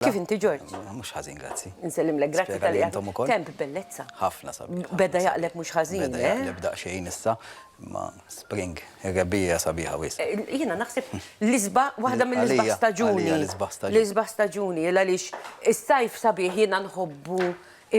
Kif inti Ġorġ? Mhux ħażin, grazzi. Nsellimlek, grazzi tal intom ukoll. Kemm bellezza. Ħafna sabiħ. Beda jaqleb mhux ħażin. Beda jaqleb daqsxejn issa, imma spring, ir-rebbija sabiħa wis. Jiena naħseb l-isba, waħda mill-isbaħ staġuni. L-isbaħ staġuni. L-isbaħ staġuni, għaliex is-sajf sabiħ jiena nħobbu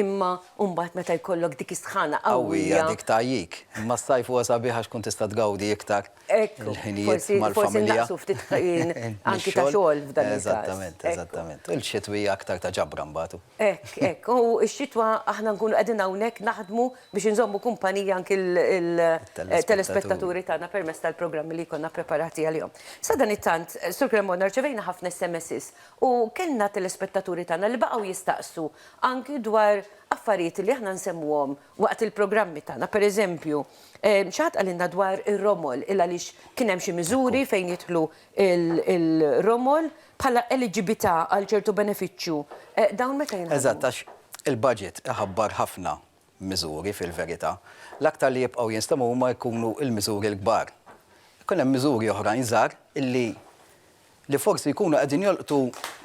imma mbagħad meta jkollok dik is-sħana qawwija. Dik tajjik. Imma s-sajf huwa sabiħ għax tkun tista' tgawdi iktar. il-ħinijiet mal-familja. Forsi naqsu ftit ħin anki ta' xogħol f'dan il-każ. Eżattament, eżattament. Il-xitwi aktar ta' ġabra mbagħad. Hekk, hekk. U x-xitwa aħna nkunu qegħdin hawnhekk naħdmu biex inżommu kumpanija anki l-telespettaturi tagħna permezz tal-programmi li jkollna ppreparati għalihom. Sadanittant, Sur Cremona, rċevejna ħafna SMSs u kellna telespettaturi tagħna li baqgħu jistaqsu anki dwar affarijiet li aħna nsemmuhom waqt il-programmi tagħna. Pereżempju, xi ħadd qalilna dwar ir-romol, il-għaliex kien hemm xi miżuri fejn jidħlu l-romol bħala eliġibità għal ċertu benefiċċju. Dawn meta jinħadmu? Eżatt, għax il-budget iħabbar ħafna miżuri fil-verità. L-aktar li jibqgħu jinstemaw huma jkunu l-miżuri l-kbar. Ikun hemm miżuri oħrajn żgħar illi li forsi jkunu qegħdin jolqtu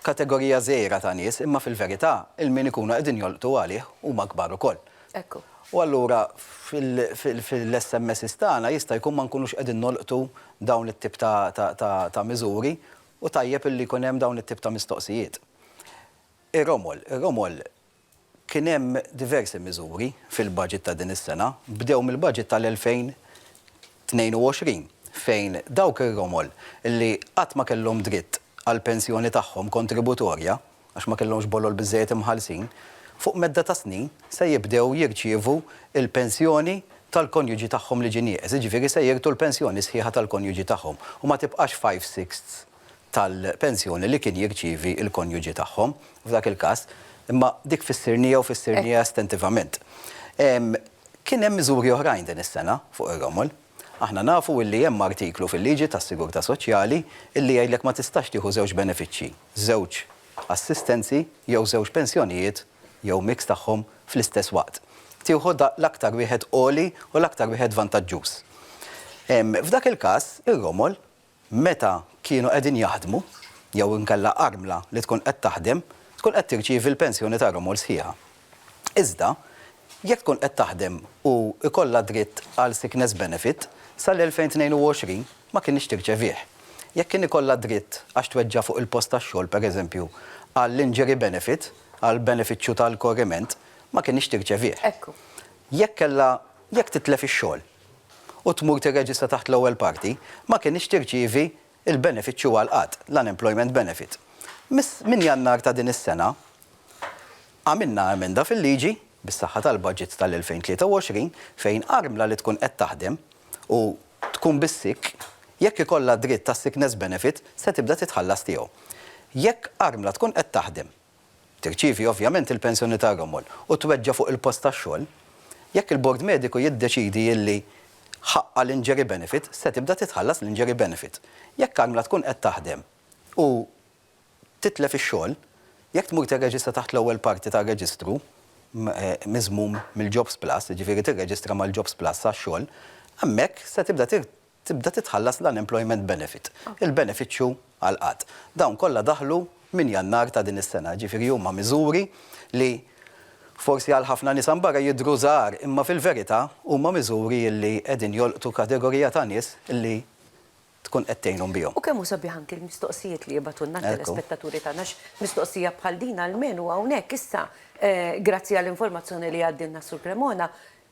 kategorija żgħira ta' nies imma fil-verità il-min ikunu qegħdin jolqtu għalih huma kbar ukoll. Ekku. U allura fil-SMSs tagħna jista' jkun ma nkunux qegħdin nolqtu dawn it-tip ta' miżuri u tajjeb illi jkun hemm dawn it-tip ta' mistoqsijiet. Ir-romol, ir-romol, Kien hemm diversi miżuri fil-budget ta' din is-sena, bdew mill-budget tal-2022 fejn dawk ir-romol li qatt ma kellhom dritt għall-pensjoni tagħhom kontributorja għax ma kellhomx bolol biżżejjed imħallsin, fuq medda ta' snin se jibdew jirċievu l-pensjoni tal-konjuġi tagħhom li ġie nieqes, jiġifieri se jirtu l-pensjoni sħiħa tal-konjuġi tagħhom u ma tibqax five-sixths. tal-pensjoni li kien jirċievi l-konjuġi tagħhom f'dak il-każ, imma dik fissirniha u fissirniha estentivament. Kien hemm miżuri oħrajn din is-sena fuq ir-romol. Aħna nafu li hemm artiklu fil-liġi tas-sigurtà soċjali li jgħidlek ma tistax tieħu żewġ benefiċċji, żewġ assistenzi jew żewġ pensjonijiet jew mix tagħhom fl-istess waqt. Tieħu l-aktar wieħed għoli u l-aktar wieħed vantaġġuż. F'dak il-każ, ir-romol meta kienu qegħdin jaħdmu jew inkella armla li tkun qed taħdem tkun qed tirċievi l-pensjoni ta' Romol sħiħa. Iżda, jekk tkun qed taħdem u jkollha dritt għal sickness benefit, sal-2022 ma kinitx tirċevih. Jekk kien ikollha dritt għax tweġġa' fuq il-post tax-xogħol, pereżempju, għall-injury benefit, għall-benefiċċju tal-korriment, ma kinitx tirċevih. Jekk kellha, jekk titlef ix-xogħol, u tmur tirreġistra taħt l-ewwel parti, ma kinitx tirċievi l-benefiċċju għall-qgħad, l-unemployment benefit. Minn Jannar ta' din is-sena, għamilna emenda fil-liġi, bis-saħħa tal-budget tal-2023, fejn armla li tkun qed taħdem u tkun bis-sick, jekk ikollha dritt għas-sickness benefit, se tibda titħallas tiegħu. Jekk armla tkun qed taħdem tirċievi ovvjament il-pensjoni tar-romol u tweġġa' fuq il-post tax-xogħol, jekk il-bord mediku jiddeċiedi li ħaqqha l-injury benefit, se tibda titħallas l-injury benefit. Jekk Carmela tkun qed taħdem u titlef ix-xogħol, jekk tmur tirreġistra taħt l-ewwel parti tar-reġistru miżmum mill-Jobs Plus, jiġifieri tirreġistra mal-Jobs Plus għax-xogħol, hemmhekk se tibda tibda titħallas l-unemployment benefit, il-benefiċċju għall-qgħad. Dawn kollha daħlu minn Jannar ta' din is-sena, jiġifieri huma miżuri li forsi għal ħafna nies hawn barra jidhru żgħar imma fil-verità huma miżuri li qegħdin jolqtu kategorija ta' nies li tkun qed tgħinhom bihom. U kemm hu sabiħ anki l-mistoqsijiet li jibgħatulna t-telespettaturi tagħna għax mistoqsija bħal din almenu hawnhekk issa, grazzi għall-informazzjoni li għaddilna s-Sur Cremona,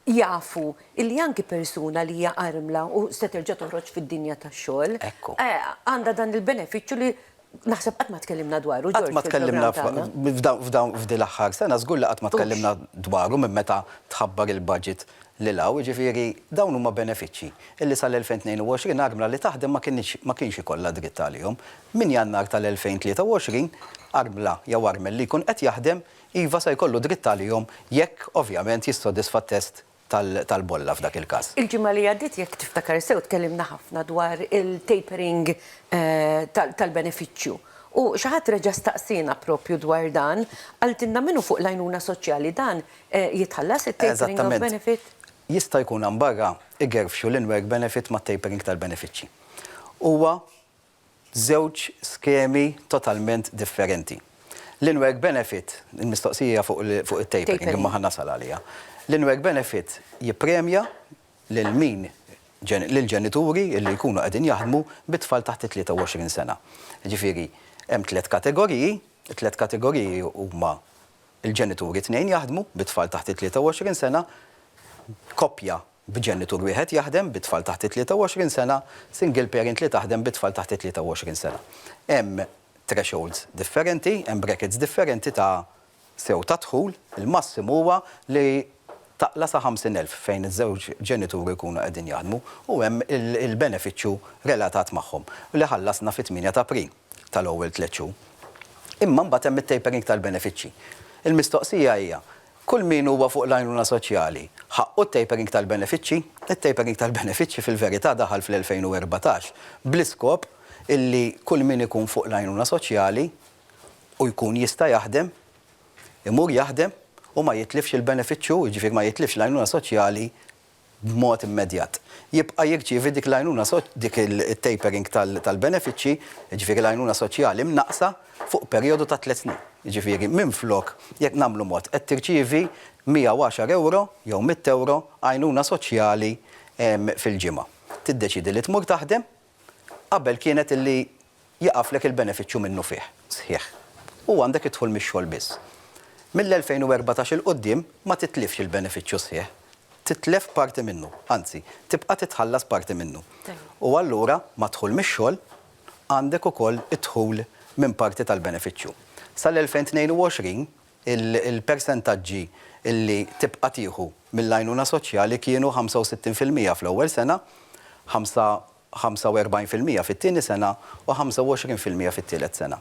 jafu li anki persuna li hija armla u se terġa' toħroġ fid-dinja tax-xogħol, għandha dan il-benefiċċju li naħseb qatt ma tkellimna dwaru, George, fil-programm tagħna. Qatt ma tkellimna f'din l-aħħar sena, żgur li qatt ma tkellimna dwaru minn meta tħabbar il-budget lil hawn, jiġifieri dawn huma benefiċċji li sal-2022 armla li taħdem ma kinitx, ma kienx ikollha dritt għalihom. Minn Jannar tal-2023, armla jew armel li jkun qed jaħdem iva se jkollu dritt għalihom jekk ovvjament jissodisfa t-test tal-bolla f'dak il-każ. Il-ġimgħa li għaddiet jekk tiftakar sew tkellimna ħafna dwar il-tapering tal-benefiċċju u xi ħadd reġa' staqsiena proprju dwar dan, qaltilna min hu fuq l-għajnuna soċjali dan jitħallas it-tapering of benefit? Eżattament. Jista' jkun hawn barra igerfxu l-in-work benefit mat-tapering tal-benefiċċji. Huwa żewġ skemi totalment differenti. L-in-work benefit, il-mistoqsija hija fuq it-tapering imma ħa nasal għaliha. L-in-work benefit jippremja lil min, lill-ġenituri li jkunu qegħdin jaħdmu bi tfal taħt it-23 sena. Jiġifieri hemm tliet kategoriji, it-tliet kategoriji huma l-ġenituri t-tnejn jaħdmu bi tfal taħt it-23 sena, koppja b'ġenitur wieħed jaħdem bi tfal taħt it-23 sena, single parent li taħdem bi tfal taħt it-23 sena. Hemm thresholds differenti, hemm brackets differenti ta' sew ta' dħul, il-massimu huwa li taqla' sa 50,000 fejn iż-żewġ ġenituri jkunu qegħdin jaħdmu u hemm il-benefiċċju relatat magħhom li ħallasna fit-tmienja ta' April tal-ewwel tliet xhur. Imma mbagħad hemm it-tapering tal-benefiċċji. Il-mistoqsija hija Kull min huwa fuq l-għajnuna soċjali, ħaqqu t-tapering tal-benefiċċji? It-tapering tal-benefiċċji fil-verità daħal fl-2014 bl-iskop illi kull min ikun fuq l-għajnuna soċjali u jkun jista' jaħdem, imur jaħdem u ma jitlifx il-benefiċċju, jiġifieri ma jitlifx l-għajnuna soċjali b'mod immedjat, jibqa' jirċievi dik l-għajnuna dik it-tapering tal-benefiċċji, jiġifieri l-għajnuna soċjali mnaqqsa, fuq perijodu ta' tliet snin. Jiġifieri, minflok, jekk nagħmlu mod, qed tirċievi 110 ewro jew mitt ewro għajnuna soċjali fil-ġimgħa. Tiddeċiedi li tmur taħdem. Qabel kienet illi jieqaflek il-benefiċċju minnufih, sħiħ, u għandek id-dħul mix-xogħol biss. Mill-2014 'il quddiem ma titlifx il-benefiċċju sħiħ, titlef parti minnu, anzi, tibqa' titħallas parti minnu. U allura mad-dħul mix-xogħol għandek ukoll id-dħul minn parti tal-benefiċċju. Sal-2022, Il-persentaġġi li tibqa' tieħu mill-għajnuna soċjali kienu 65 fil-mija fl-ewwel sena, 45 fil-mija fit-tieni sena u 25 fil-mija fit-tielet sena.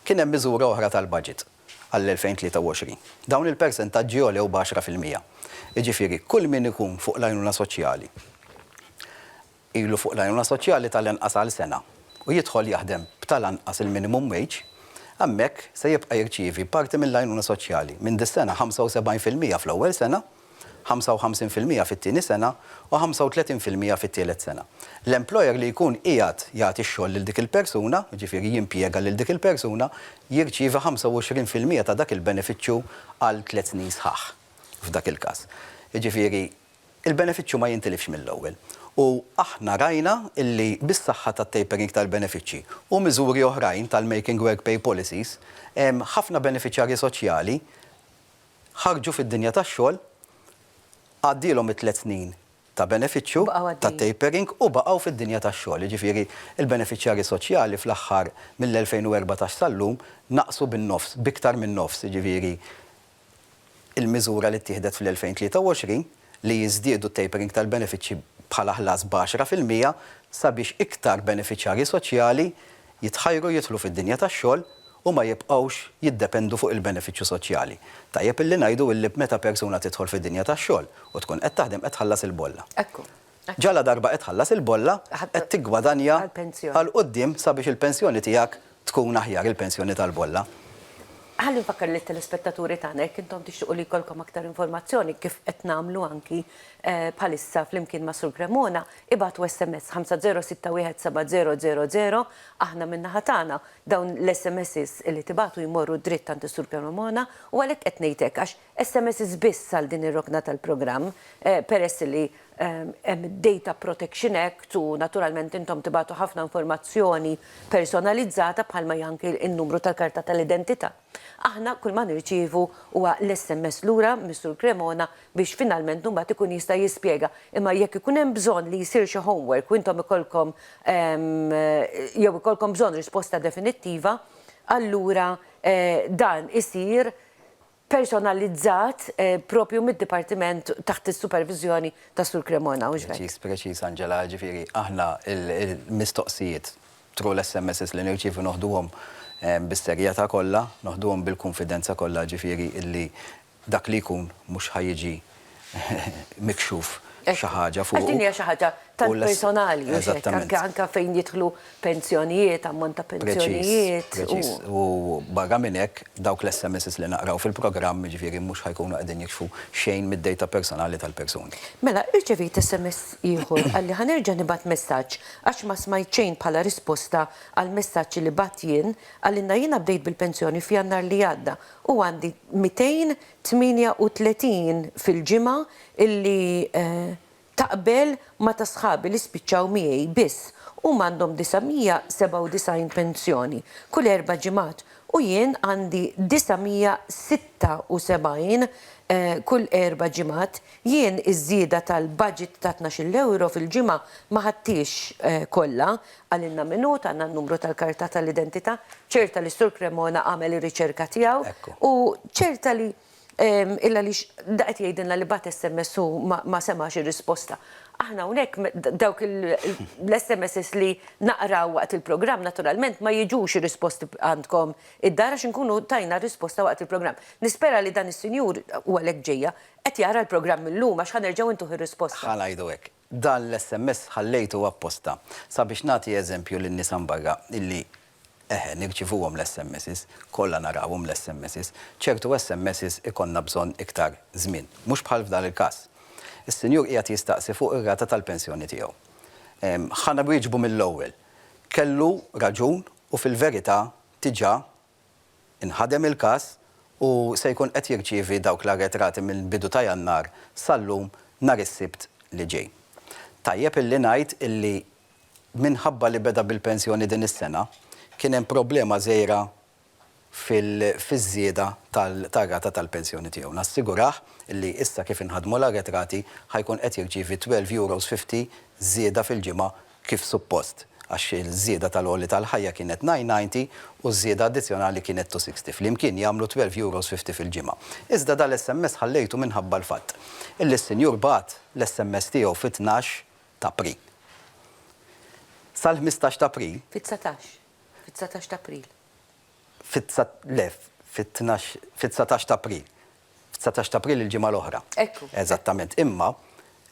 Kien hemm miżura oħra tal-baġit għall-2023. Dawn il-persentaġġi għolew b'għaxra fil-mija. Jiġifieri kull min ikun fuq l-għajnuna soċjali, ilu fuq l-għajnuna soċjali tal-inqas għal sena u jidħol jaħdem b'tal-anqas il-minimum wage, hemmhekk se jibqa' jirċievi parti mill-għajnuna soċjali minn dis-sena 75 fil-mija fl-ewwel sena, 55 fil-mija fit-tieni sena u 35 fil-mija fit-tielet sena. L-employer li jkun qiegħed jagħti x-xogħol lil dik il-persuna, jiġifieri jimpjega lil dik il-persuna, jirċievi 25 fil-mija ta' dak il-benefiċċju għal tliet snin sħaħ f'dak il-każ. Jiġifieri, Il-benefiċċju ma jintilifx mill-ewwel u aħna rajna li bis-saħħa tat-tapering tal-benefiċċji u miżuri oħrajn tal-Making Work Pay Policies, ħafna benefiċjarji soċjali ħarġu fid-dinja tax-xogħol, għaddielhom it-tliet snin ta' benefiċċju ta' tapering u baqgħu fid-dinja tax-xogħol. Jiġifieri l-benefiċjarji soċjali fl-aħħar mill-2014 sal-lum naqsu bin-nofs, b'iktar min-nofs, jiġifieri il-miżura li ttieħdet fl-2023 li jiżdiedu t-tapering tal-benefiċċji bħala ħlas b'għaxra fil-mija sabiex iktar benefiċjarji soċjali jitħajru jidħlu fid-dinja tax-xogħol u ma jibqgħux jiddependu fuq il-benefiċċju soċjali. Tajjeb illi ngħidu illi meta persuna tidħol fid-dinja tax-xogħol u tkun qed taħdem qed tħallas il-bolla. Ekku. Ġaladarba qed tħallas il-bolla, qed tiggwadanja għal quddiem sabiex il-pensjoni tiegħek tkun aħjar, il-pensjoni tal-bolla. Ħalli nfakkar lit-telespettaturi tagħna jekk intom tixtiequ li jkollkom aktar informazzjoni kif qed nagħmlu anki bħalissa flimkien ma' Sur Cremona, ibagħtu SMS 50617000, aħna min-naħa tagħna dawn l-SMSs li tibagħtu jmorru dritt għand is-Sur Cremona u għalhekk qed ngħid hekk għax SMSs biss għal din ir-rokna tal-programm, peress li hemm id-Data Protection Act u naturalment intom tibagħtu ħafna informazzjoni personalizzata bħalma hi anki n-numru tal-karta tal-identità. Aħna kull ma nirċievu huwa l-SMS lura mis-Sur Cremona biex finalment imbagħad ikun jista' jispjega. Imma jekk ikun hemm bżonn li jsir xi homework u intom ikollkom jew ikollkom bżonn risposta definittiva, allura dan isir personalizzat proprju mid-dipartiment taħt is-superviżjoni ta' Sur Cremona, mhux hekk? Preċiż, preċiż Angela, ġifieri aħna l-mistoqsijiet through l-SMSs li nirċievu noħduhom bis-serjetà kollha, noħduhom bil-kunfidenza kollha ġifieri illi dak li jkun mhux ħa jiġi mikxuf xi ħaġa fuqu. Għax din hija xi ħaġa tant personali, mhux hekk? Anke anke fejn jidħlu pensjonijiet, ammont ta' pensjonijiet. Preċiż, preċiż. U barra minn hekk, dawk l-SMSs li naqraw fil-programm, jiġifieri mhux ħa jkunu qegħdin jikxfu xejn mid-dejta personali tal-persuni. Mela, irċevejt SMS ieħor, qalli ħa nerġa' nibgħat messaġġ għax ma smajt xejn bħala risposta għall-messaġġ li bgħatt jien, qalilna jiena bdejt bil-pensjoni f'Jannar li għadda u għandi 200 38 fil-ġimgħa illi taqbel ma' ta' sħabi li spiċċaw miegħi biss huma għandhom 997 pensjoni kull erba' ġimgħat u jien għandi 976 kull erba' ġimgħat, jien iż-żieda tal-baġit ta' tnax-il ewro fil-ġimgħa ma ħadthiex kollha Qalilna min hu, tana n-numru tal-karta tal-identita, ċerta li s-Sur Cremona għamel ir-riċerka tiegħu u ċerta li il għaliex da qed jgħidilna li bagħat SMS u ma semax ir-risposta. Aħna hawnhekk dawk l-SMSs li naqraw waqt il-programm naturalment ma jiġux ir-risposti għandkom id-dar għax inkunu tajna r-risposta waqt il-programm. Nispera li dan is-sinjur, u għalhekk ġejja, qed jara l-programm illum għax ħa nerġgħu ntuh ir-risposta. Ħa ngħidu hekk. Dan l-SMS ħallejtu apposta sabiex nagħti eżempju lin-nies hawn barra illi eħe nirċivuhom l-SMSs, kollha narawhom l-SMSs. Ċertu SMSs ikollna bżonn iktar żmien, mhux bħal f'dan il-każ. Is-sinjur qiegħed jistaqsi fuq ir-rata tal-pensjoni tiegħu. Ħa nwieġbu mill-ewwel. Kellu raġun u fil-verità diġà Inħadem il-każ u se jkun qed jirċievi dawk l-arretrati mill-bidu ta' Jannar sal-lum nhar is-Sibt li ġej. Tajjeb illi ngħid illi minħabba li beda bil-pensjoni din is-sena, kien hemm problema żgħira fiż-żieda tar-rata tal-pensjoni tiegħu. Nassigurah illi issa kif inħadmu l-arretrati ħa jkun qed jirċievi twelve euros fifty żieda fil-ġimgħa kif suppost, għax iż-żieda tal-għoli tal-ħajja kienet nine ninety u ż-żieda addizzjonali kienet two sixty, flimkien jagħmlu twelve euros fifty fil-ġimgħa. Iżda dal-SMS ħallejtu minħabba l-fatt illi s-sinjur bagħat l-SMS tiegħu fit-tnax t'April. Sal-ħmistax t'April. Fit-dsatax. Fid-dsatax t'April. le, fit-tnax, fit-dsatax t'April. F'dsatax t'April il-ġimgħa l-oħra. Ekku. Eżattament. Imma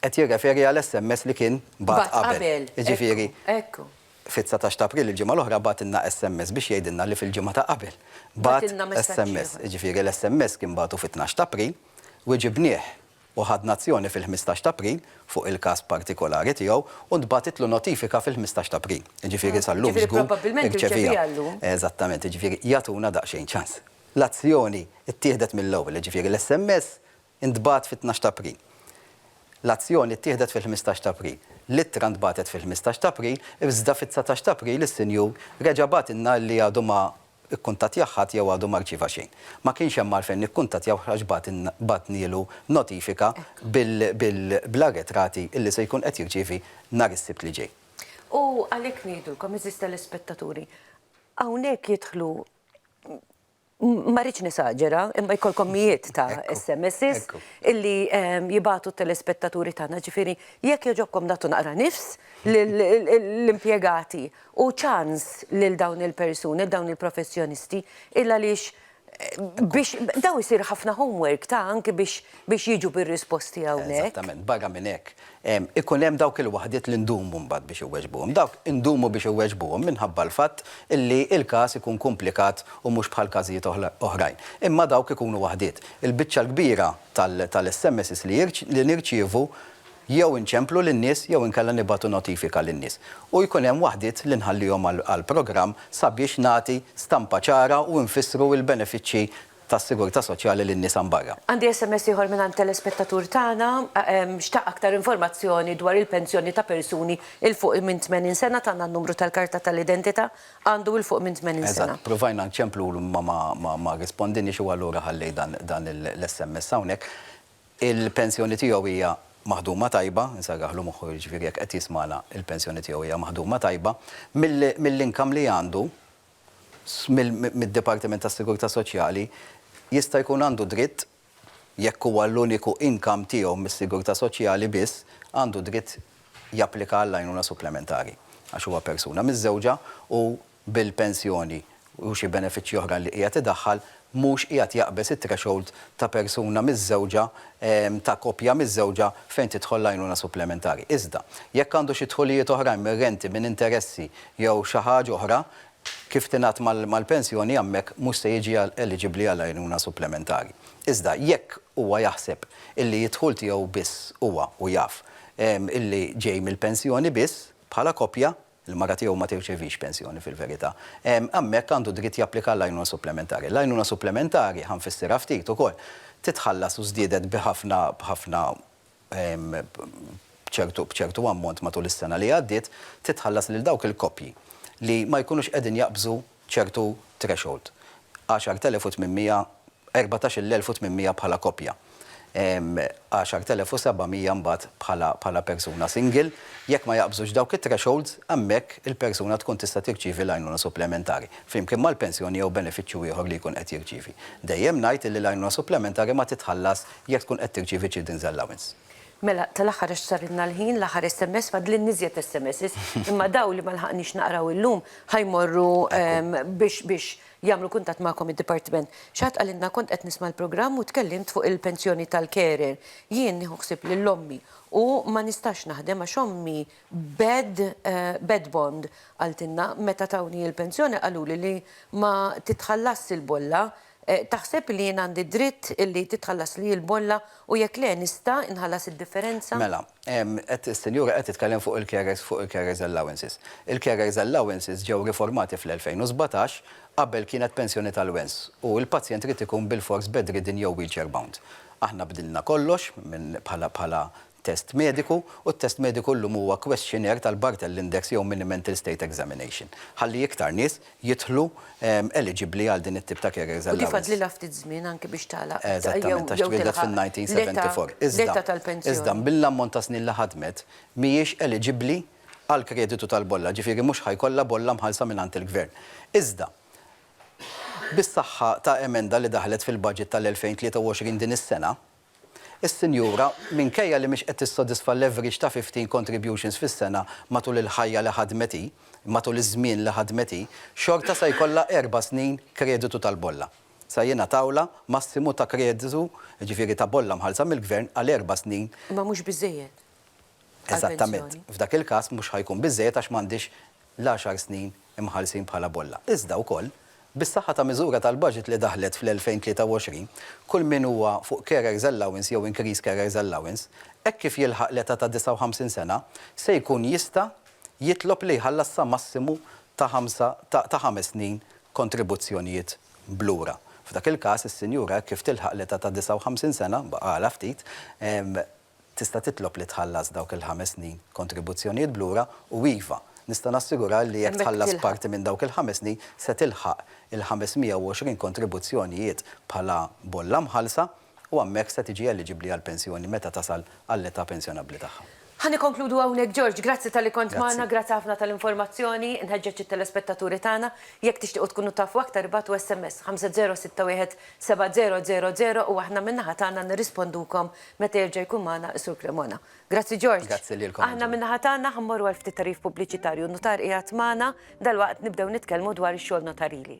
qed jirreferi għal SMS li kien bagħat qabel. Bagħat qabel. Jiġifieri. Ekku. Fid-dsatax t'April il-ġimgħa l-oħra bagħatilna SMS biex jgħidilna li fil-ġimgħa ta' qabel bagħat SMS. Jiġifieri l-SMS kien bagħtu fit-tnax t'April u ġibnieh u ħadna azzjoni fil-ħmistax ta' April fuq il-każ partikolari tiegħu u ntbagħtitlu notifika fil-ħmistax ta' April. Jiġifieri sal-lum żgur irċeviha. Eżattament, jiġifieri jagħtuna daqsxejn ċans. L-azzjoni ttieħdet mill-ewwel, jiġifieri l-SMS intbagħat fit-tnax ta' April. L-azzjoni ttieħdet fil-ħmistax ta' April. L-ittra ntbagħtet fil-ħmistax ta' April, iżda fit-dsatax ta' April is-sinjur reġa' bagħtilna li għadu ma ikkuntattjah ħadd jew għadu ma rċieva xejn. Ma kienx hemm għalfejn nikkuntattjawh għax bagħatnielu notifika bl-arretrati li se jkun qed jirċievi nhar is-Sibt li ġej. U għalhekk ngħidulkom, għeżież telespettaturi, hawnhekk jidħlu, ma rridx nesaġera, imma jkollkom mijiet ta' SMSs illi jibagħtu t-telespettaturi tagħna, jiġifieri jekk jogħġobkom nagħtu naqra nifs lill-impjegati u ċans lil dawn il-persuni, lil dawn il-professjonisti, il-għaliex biex daw isir ħafna homework ta' anki biex biex jiġu bir-risposti hawnhekk. Eżattament, barra minn hekk, ikun hemm dawk il-waħdiet li ndumu mbagħad biex iweġbuhom. Dawk indumu biex iweġbuhom minħabba l-fatt illi l-każ ikun kumplikat u mhux bħal każijiet oħrajn. Imma dawk ikunu waħdiet. Il-biċċa l-kbira tal-SMSs li nirċievu jew inċemplu lin-nies jew inkella nibagħtu notifika lin-nies. U jkun hemm waħdiet li nħallihom għall-programm sabiex nagħti stampa ċara u nfissru l-benefiċċji tas-sigurtà soċjali lin-nies hawn barra. Għandi sms ieħor mingħand telespettatur tagħna. Xtaq aktar informazzjoni dwar il-pensjoni ta' persuni 'l fuq minn 80 sena, tana n-numru tal-karta tal-identità, għandu 'l fuq minn 80 sena. Eżatt, provajna nċemplulu imma ma rrispondinniex u allura ħallejt dan l-sms hawnhekk. Il-pensjoni tiegħu hija maħduma tajba, insarragħlu moħħu jiġifieri jekk qed jismagħna, il-pensjoni tiegħu hija maħduma tajba, mill-income li għandu mid-Dipartiment tas-Sigurtà Soċjali, jista' jkun għandu dritt, jekk huwa l-uniku income tiegħu mis-Sigurtà Soċjali biss, għandu dritt japplika għall-għajnuna supplementari għax huwa persuna miżżewġa u bil-pensjoni u xi benefiċċji oħra li qiegħed idaħħal mhux qiegħed jaqbeż it-threshold ta' persuna miżżewġa, ta' koppja miżżewġa fejn tidħol l-għajnuna supplementari. Iżda, jekk għandu xi dħulijiet oħrajn minn renti, minn interessi jew xi ħaġa oħra, kif tingħadd mal-pensjoni hemmhekk mhux se jiġi eliġibbli għal għajnuna supplementari. Iżda, jekk huwa jaħseb illi d-dħul tiegħu biss huwa, u jaf, illi ġej mill-pensjoni biss, bħala koppja, Il-mara tiegħu ma tirċevix pensjoni fil-verità. Hemmhekk għandu dritt japplika għall-għajnuna supplementari. L-għajnuna supplementari, ħa nfissirha ftit ukoll, titħallas u żdiedet bi ħafna, b'ħafna, b'ċertu, b'ċertu ammont matul is-sena li għaddiet, titħallas lil dawk il-koppji li ma jkunux qegħdin jaqbżu ċertu threshold, 10,800, 14,800 bħala koppja, 10,700 mbagħad bħala persuna single, jekk ma jaqbżux dawk it-thresholds, hemmhekk il-persuna tkun tista' tirċievi l-għajnuna supplementari, flimkien mal-pensjoni jew benefiċċju ieħor li jkun qed jirċievi. Dejjem ngħid illi l-għajnuna supplementari ma titħallas jekk tkun qed tirċievi children's allowance. Mela, tal-aħħar għax sarilna l-ħin, l-aħħar SMS, fadlilni iżjed SMSs, imma dawn li ma lħaqniex naqraw illum ħa jmorru biex biex jagħmlu kuntatt magħkom id-dipartiment. Xi ħadd qalilna kont qed nisma' l-programm u tkellimt fuq il-pensjoni tal-carer. Jien nieħu ħsieb lil ommi u ma nistax naħdem għax ommi bed bed bond qaltilna meta tawni l-pensjoni qaluli li ma titħallasx il-bolla Taħseb li jien għandi d-dritt li titħallaslii l-bolla u jekk le nista' inħallas id-differenza? Mela, is-Sinjura qed titkellem fuq il-carers fuq il-carers allowances. Il-carers allowances ġew riformati fl-2017 qabel kienet pensjoni tal-wens u l-pazjent irid ikun bilfors bedridden jew wheelchair bound. Aħna bdilna kollox minn bħala bħala test mediku, u t-test mediku llum huwa questionnaire tal-Barthel Index jew Mini-Mental State Examination, ħalli iktar nies jidħlu eliġibbli għal din it-tip ta' carers allowance. U kif għadlilha ftit żmien anki biex tagħlaq jew tilħaq l-età, l-età tal-pensjoni. Eżattament, għax twieldet fin-1974. Iżda, iżda mill-ammont ta' snin li ħadmet, mhijiex eliġibbli għall-kreditu tal-bolla, ġifieri mhux ħa jkollha bolla mħallsa mingħand il-Gvern. Iżda, bis-saħħa ta' emenda li daħlet fil-budget tal-2023 din is-sena, Is-sinjura, minkejja li mhix qed tissodisfa l-average ta' 15 contributions fis-sena matul il-ħajja li ħadmet hi, matul iż-żmien li ħadmet hi, xorta se jkollha erba' snin kreditu tal-bolla. Se jingħatawlha massimu ta' kreditu, jiġifieri ta' bolla mħallsa mill-Gvern għal erba' snin. Imma mhux biżżejjed għall-pensjoni. Eżattament. F'dak il-każ mhux ħa jkun biżżejjed għax m'għandhiex l-għaxar snin imħarsin bħala bolla. Iżda wkoll, bis-saħħa ta' miżura tal-baġit li daħlet fl-2023, kull min huwa fuq carers allowance jew increased carers allowance, hekk kif jilħaq l-età ta' 59 sena, se jkun jista' jitlob li jħallas sa massimu ta' ħamsa ta' ta' ħames snin kontribuzzjonijiet b'lura. F'dak il-każ, is-sinjura hekk kif tilħaq l-età ta' 59 sena, baqgħalha ftit, tista' titlob li tħallas dawk il-ħames snin kontribuzzjonijiet b'lura u iva, nista' nassigurah li jekk tħallas parti minn dawk il-ħames snin se tilħaq il-520 kontribuzzjonijiet bħala bolla mħallsa u hemmhekk se tiġi eliġibbli għall-pensjoni meta tasal għall-età pensjonabbli tagħha. Ħa nikkonkludu hawnhekk George, grazzi talli kont magħna, grazzi ħafna tal-informazzjoni, nħeġġeġ it-telespettaturi tagħna, jekk tixtiequ tkunu tafu aktar ibgħatu sms 5061 7000 u aħna min-naħa tagħna nirrispondukom Meta jerġa' jkun magħna is-Sur Cremona. Grazzi George. Grazzi lilkom. Aħna min-naħa tagħna ħa mmorru għal ftit tagħrif pubbliċitarju. N-nutar qiegħed magħna, dalwaqt nibdew nitkellmu dwar ix-xogħol notarili.